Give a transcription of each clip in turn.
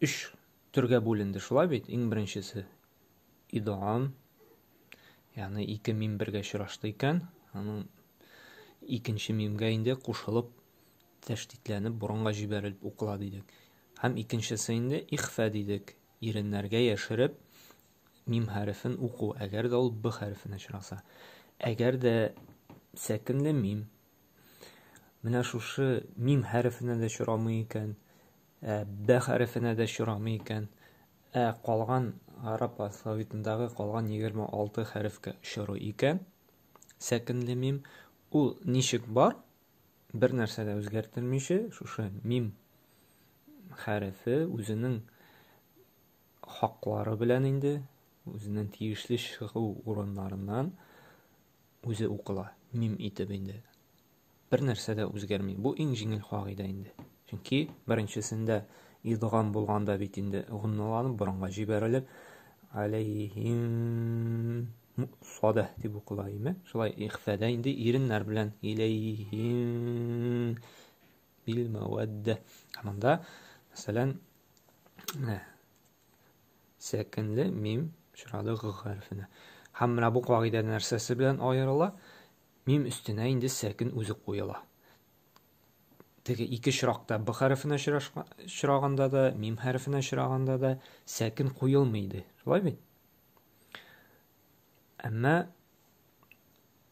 өч төргә бүленде, шулай бит? Иң беренчесе идгам, ягъни ике мим бергә очрашты икән, аның икенче мимгә инде кушылып тәштитләнеп борынга җибәрелеп укыла дидек. Һәм икенчесе инде ихфә дидек, иреннәргә яшереп мим хәрефен уку, әгәр дә ул б хәрефенә очраса. Әгәр дә сәкенле мим Менә шушы мим хәрефенә дә чорамый икән, ә бә хәрефенә дә чорамый икән, ә калган гарап алфавитындагы калган 26 хәрефкә чорый икән. Сәкенле мим ул ничек бар? Бер нәрсә дә үзгәртелмичә, шушы мим хәрефе үзенең хаклары белән инде, үзенең тиешле чыгу урыннарыннан Үзе укыла, мим итеп инде. Бер нәрсә дә үзгәрми. Бу иң җиңел кагыйдә инде. Чөнки беренчесендә идгам булганда бит инде гунналанып борынга җибәрелеп алейһим сада дип укыла име? Шулай ихфәдә инде иреннәр белән илейһим бил мәвәддә. Ә монда, мәсәлән, Сәкенле мим очрады г хәрефенә. Һәм менә бу кагыйдә нәрсәсе белән аерыла? Мим өстенә инде сәкен үзе куела. Теге ике чиракта б хәрефенә чираганда да, мим хәрефенә чираганда да сәкен куелмый иде. Шулай бит? Әмма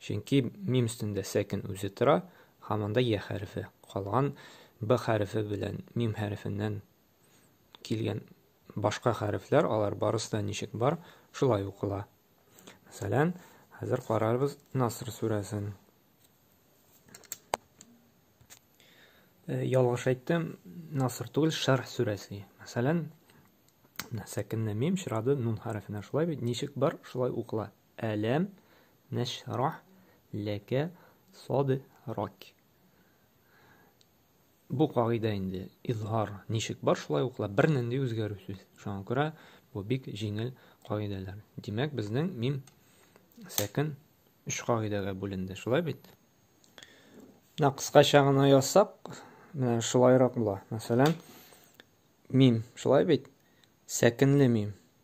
Чөнки мим өстендә сәкен үзе тора һәм анда йә хәрефе, калган б хәрефе белән мим хәрефеннән килгән башка хәрефләр, алар барысы да ничек бар, шулай укыла. Мәсәлән, хәзер карарбыз Наср сүрәсен. Э, ялгыш әйттем, Наср түгел, Шәрх сүрәсе. Мәсәлән, сәкенне мим чирады нун хәрефенә шулай бит, ничек бар, шулай укыла. Әләм нәшрах ләкә садрак. Бу кагыйдә инде изһар ничек бар, шулай ук ла бернинди үзгәрүсез. Шуңа күрә бу бик җиңел кагыйдәләр. Димәк, безнең мим сәкен өч кагыйдәгә бүленде, шулай бит? Менә кыскача гына язсак, менә шулайрак була. Мәсәлән, мим, шулай бит? Сәкенле мим.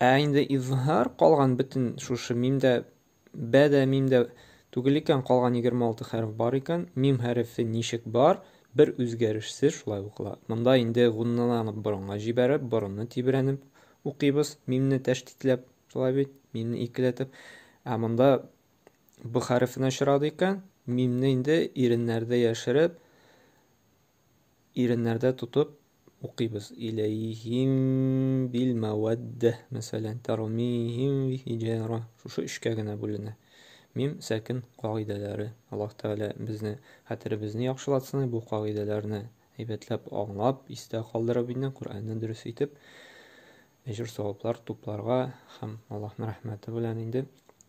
Ә инде изһар калган бөтен шушы мимдә бә дә мимдә түгел икән, калган 26 хәреф бар икән. Мим хәрефе ничек бар, бер үзгәрешсез шулай укыла. Монда инде гунналарны борынга җибәреп, борынны тибрәнеп укыйбыз, мимне тәштитләп, шулай бит, мимне икеләтеп. Ә монда б хәрефенә очрады икән, мимне инде иреннәрдә яшереп, Иреннәрдә тотып укыйбыз. Иләйһим бил мәвәддә, мәсәлән, тәрмиһим би хиҗара. Шушы өчкә генә бүленә. Мим сәкен кагыйдәләре. Аллаһ Тәгалә безне хәтеребезне яхшылатсын и бу кагыйдәләрне әйбәтләп аңлап, истә калдырып инде Коръәнне дөрес итеп әҗер-саваплар тупларга һәм Аллаһның рәхмәте белән инде